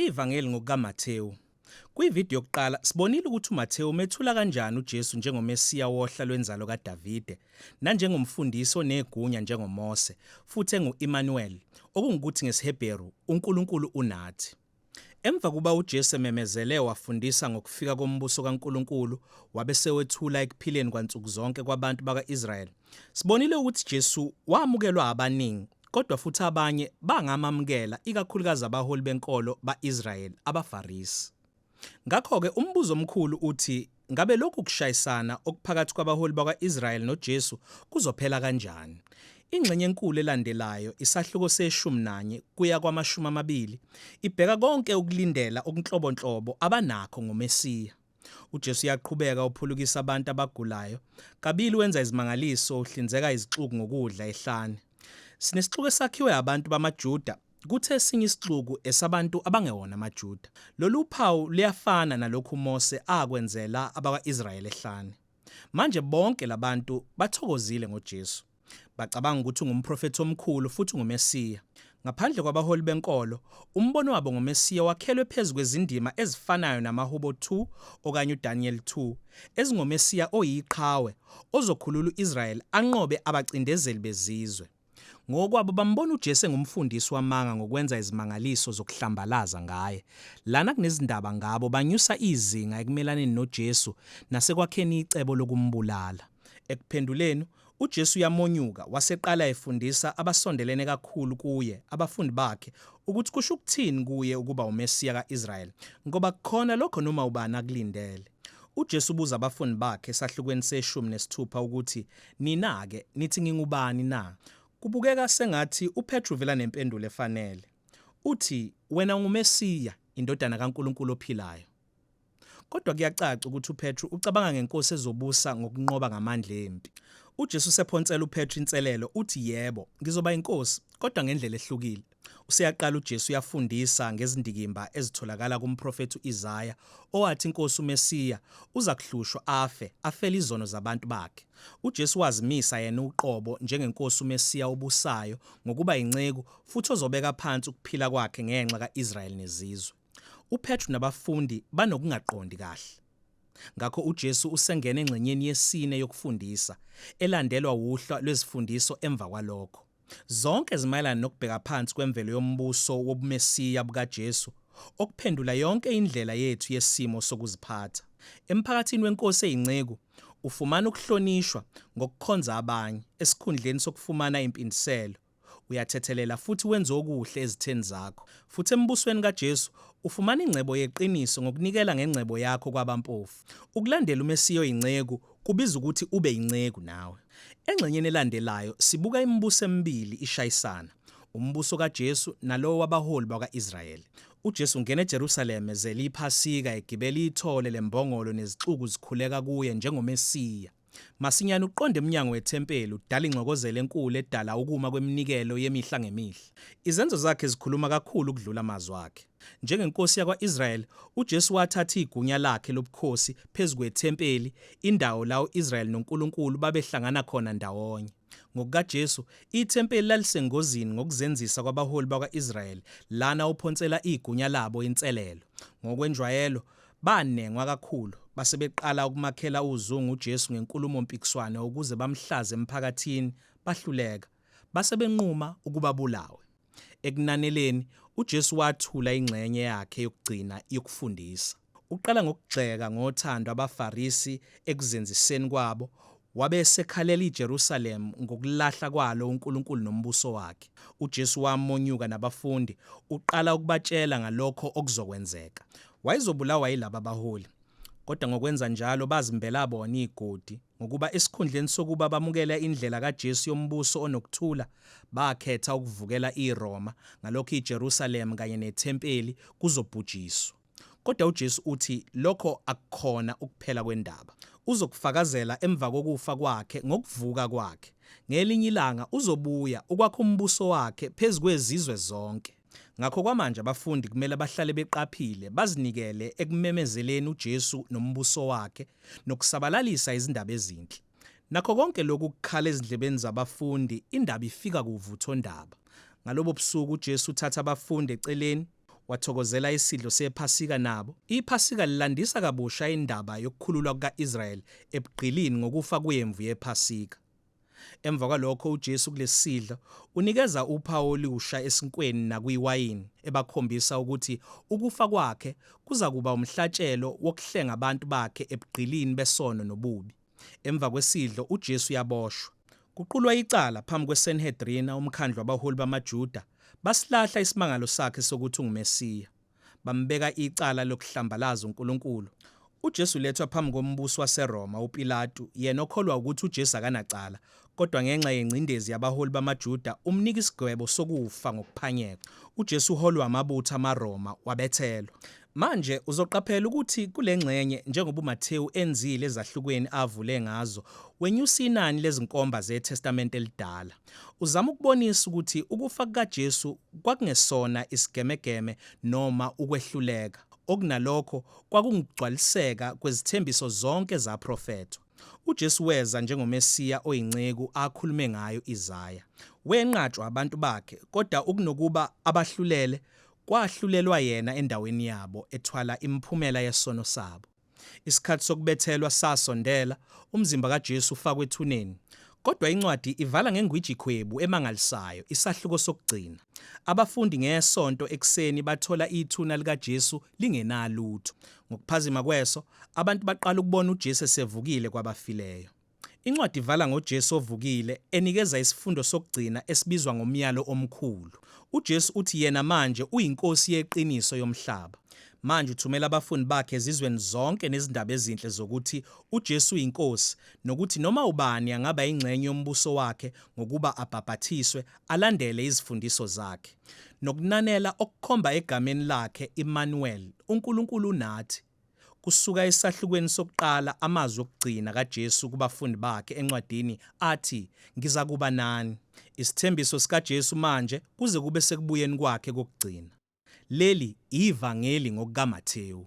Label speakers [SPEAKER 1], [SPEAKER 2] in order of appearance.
[SPEAKER 1] Ivangeli ngokukaMathewu. Kwividiyo yokuqala sibonile ukuthi uMathewu umethula kanjani uJesu njengoMesiya wohla lwenzalo kaDavide, nanjengomfundisi onegunya njengoMose, futhi engu-Immanuel, okungukuthi ngesiHebheru, uNkulunkulu unathi. Emva kuba uJesu ememezele wafundisa ngokufika kombuso kaNkulunkulu wabe sewethula ekuphileni kwansuku zonke kwabantu baka-Israyeli, sibonile ukuthi Jesu wamukelwa abaningi kodwa futhi abanye bangamamukela ikakhulukazi abaholi benkolo ba-Israyeli, abaFarisi. Ngakho-ke umbuzo omkhulu uthi Ngabe lokhu kushayisana okuphakathi kwabaholi bakwa-Israyeli noJesu kuzophela kanjani? Ingxenye enkulu elandelayo, isahluko seshumi nanye kuya kwamashumi amabili, ibheka konke ukulindela okunhlobonhlobo abanakho ngoMesiya. UJesu uyaqhubeka uphulukisa abantu abagulayo, kabili wenza izimangaliso, uhlinzeka izixuku ngokudla ehlane. Sinesixuku esakhiwe abantu bamaJuda Kuthi esinye isixuku esabantu abangewona amaJuda, Lolu uphawu luyafana nalokhu uMose akwenzela abakwa-Israyeli ehlane. Manje bonke labantu bathokozile ngoJesu. Bacabanga ukuthi ungumprofethi omkhulu futhi unguMesiya. Ngaphandle kwabaholi benkolo, umbono wabo ngoMesiya wakhelwe phezu kwezindima ezifanayo namaHubo 2 okanye uDaniyeli 2, ezingoMesiya oyiqhawe, ozokhulula u-Israyeli anqobe abacindezeli bezizwe. Ngokwabo bambona uJesu engumfundisi wamanga ngokwenza izimangaliso zokuhlambalaza ngaye. Lana kunezindaba ngabo banyusa izinga ekumelaneni noJesu nasekwakheni icebo lokumbulala. Ekuphenduleni, uJesu uyamonyuka waseqala efundisa abasondelene kakhulu kuye, abafundi bakhe, ukuthi kusho ukuthini kuye ukuba uMesiya ka-Israyeli, ngoba kukhona lokho noma ubani akulindele. UJesu ubuza abafundi bakhe esahlukweni seshumi nesithupha ukuthi Nina-ke nithi ngingubani na? Kubukeka sengathi uPetru uvela nempendulo efanele. Uthi, Wena unguMesiya, indodana kaNkulunkulu ophilayo. Kodwa kuyacaca ukuthi uPetru ucabanga ngenkosi ezobusa ngokunqoba ngamandla empi. UJesu usephonsela uPetru inselelo, uthi, Yebo, ngizoba inkosi, kodwa ngendlela ehlukile. Useyaqala uJesu uyafundisa ngezindikimba ezitholakala kumprofethi u-Isaya owathi iNkosi uMesiya uza kuhlushwa afe, afele izono zabantu bakhe. UJesu wazimisa yena uqobo njengeNkosi uMesiya obusayo ngokuba yinceku futhi ozobeka phansi ukuphila kwakhe ngenxa ka-Israyeli nezizwe. UPetru nabafundi banokungaqondi kahle. Ngakho uJesu usengena engxenyeni yesine yokufundisa, elandelwa wuhla lwezifundiso emva kwalokho. Zonke zimayelana nokubheka phansi kwemvelo yombuso wobuMesiya bukaJesu, okuphendula yonke indlela yethu yesimo sokuziphatha. Emphakathini wenkosi eyinceku, ufumana ukuhlonishwa ngokukhonza abanye esikhundleni sokufumana impindiselo, uyathethelela futhi wenza okuhle ezitheni zakho, futhi eMbusweni kaJesu, ufumana ingcebo yeqiniso ngokunikela ngengcebo yakho kwabampofu. Ukulandela uMesiya oyinceku kubiza ukuthi ube yinceku nawe. Engxenyeni elandelayo sibuka imibuso emibili ishayisana, umbuso kaJesu nalowo wabaholi bakwa-Israyeli. UJesu ungena eJerusalema ze liyiPhasika egibela ithole lembongolo nezixuku zikhuleka kuye njengoMesiya. Masinyane uqonda emnyango wethempeli udala ingxokozelo enkulu edala ukuma kweminikelo yemihla ngemihla. Izenzo zakhe zikhuluma kakhulu ukudlula amazwi akhe. NjengeNkosi yakwa-Israyeli, uJesu wathatha igunya lakhe lobukhosi phezu kwethempeli, indawo la u-Israyeli noNkulunkulu babehlangana khona ndawonye. NgokukaJesu, ithempeli lalisengozini ngokuzenzisa kwabaholi bakwa-Israyeli, lana uphonsela igunya labo inselelo. Ngokwenjwayelo, banengwa kakhulu, base beqala ukumakhela uzungu uJesu ngenkulumo-mpikiswano ukuze bamhlaze emphakathini, bahluleka. Base benquma ukuba abulawe. Ekunaneleni, uJesu wathula ingxenye yakhe yokugcina yokufundisa. Uqala ngokugxeka ngothando abaFarisi ekuzenziseni kwabo, wabe esekhalela iJerusalem ngokulahla kwalo uNkulunkulu nombuso wakhe. UJesu wamonyuka nabafundi, uqala ukubatshela ngalokho okuzokwenzeka. Wayezobulawa yilaba baholi, kodwa ngokwenza njalo bazimbela bona igodi. Ngokuba esikhundleni sokuba bamukela indlela kaJesu yombuso onokuthula, bakhetha ukuvukela iRoma, ngalokho iJerusalema kanye nethempeli kuzobhujiswa. Kodwa uJesu uthi lokho akukhona ukuphela kwendaba. Uzokufakazela emva kokufa kwakhe ngokuvuka kwakhe. Ngelinye ilanga uzobuya ukwakha umbuso wakhe phezu kwezizwe zonke. Ngakho kwamanje abafundi kumele bahlale beqaphile, bazinikele ekumemezeleni uJesu nombuso wakhe nokusabalalisa izindaba ezinhle. Nakho konke lokhu kukhala ezindlebeni zabafundi, indaba ifika kuvuthondaba. Ngalobo busuku uJesu uthatha abafundi eceleni wathokozela isidlo sephasika nabo. Iphasika lilandisa kabusha indaba yokukhululwa kuka-Israyeli ebugqilini ngokufa kwemvu yephasika. Emva kwalokho uJesu kulesidlo unikeza uphawu oluwusha esinkweni nakuyiwayini ebakhombisa ukuthi ukufa kwakhe kuza kuba umhlatshelo wokuhlenga abantu bakhe ebugqilini besono nobubi. Emva kwesidlo uJesu uyaboshwa. Kuqulwa icala phambi kweSenhedrina, umkhandlu wabaholi bamaJuda, basilahla isimangalo sakhe sokuthi unguMesiya. bambeka icala lokuhlambalaza uNkulunkulu. UJesu ulethwa phambi kombusi waseRoma, uPilatu, yena okholwa wukuthi uJesu akanacala, kodwa ngenxa yengcindezi yabaholi bamaJuda, umnika isigwebo sokufa ngokuphanyekwa. UJesu uholwa amabutho amaRoma, wabethelwa. Manje, uzoqaphela ukuthi kule ngxenye, njengoba uMathewu enzile ezahlukweni avule ngazo, wenyusa inani lezinkomba zeTestamente eliDala. Uzama ukubonisa ukuthi ukufa kukaJesu kwakungesona isigemegeme noma ukwehluleka, okunalokho kwakungukugcwaliseka kwezithembiso zonke zaprofethwa. UJesu weza njengoMesiya oyinceku akhulume ngayo Isaya. Wenqatshwa abantu bakhe, kodwa ukunokuba abahlulele, kwahlulelwa yena endaweni yabo, ethwala imiphumela yesono sabo. Isikhathi sokubethelwa sasondela, umzimba kaJesu ufakwe ethuneni. Kodwa incwadi ivala ngengwijikhwebu emangalisayo, isahluko sokugcina. Abafundi ngeSonto ekuseni bathola ithuna likaJesu lingenalutho. Ngokuphazima kweso, abantu baqala ukubona uJesu esevukile kwabafileyo. Incwadi ivala ngoJesu ovukile, enikeza isifundo sokugcina esibizwa ngomyalo omkhulu. UJesu uthi yena manje uyiNkosi yeqiniso yomhlaba. Manje uthumela abafundi bakhe ezizweni zonke nezindaba ezinhle zokuthi uJesu uyiNkosi nokuthi noma ubani angaba yingxenye yombuso wakhe ngokuba abhabhathiswe, alandele izifundiso zakhe. Nokunanela okukhomba egameni lakhe, Immanuel, uNkulunkulu unathi. Kusuka esahlukweni sokuqala amazwi okugcina kaJesu kubafundi bakhe encwadini athi, Ngizakuba nani. Isithembiso sikaJesu manje kuze kube sekubuyeni kwakhe kokugcina. Leli iVangeli ngokukaMathewu.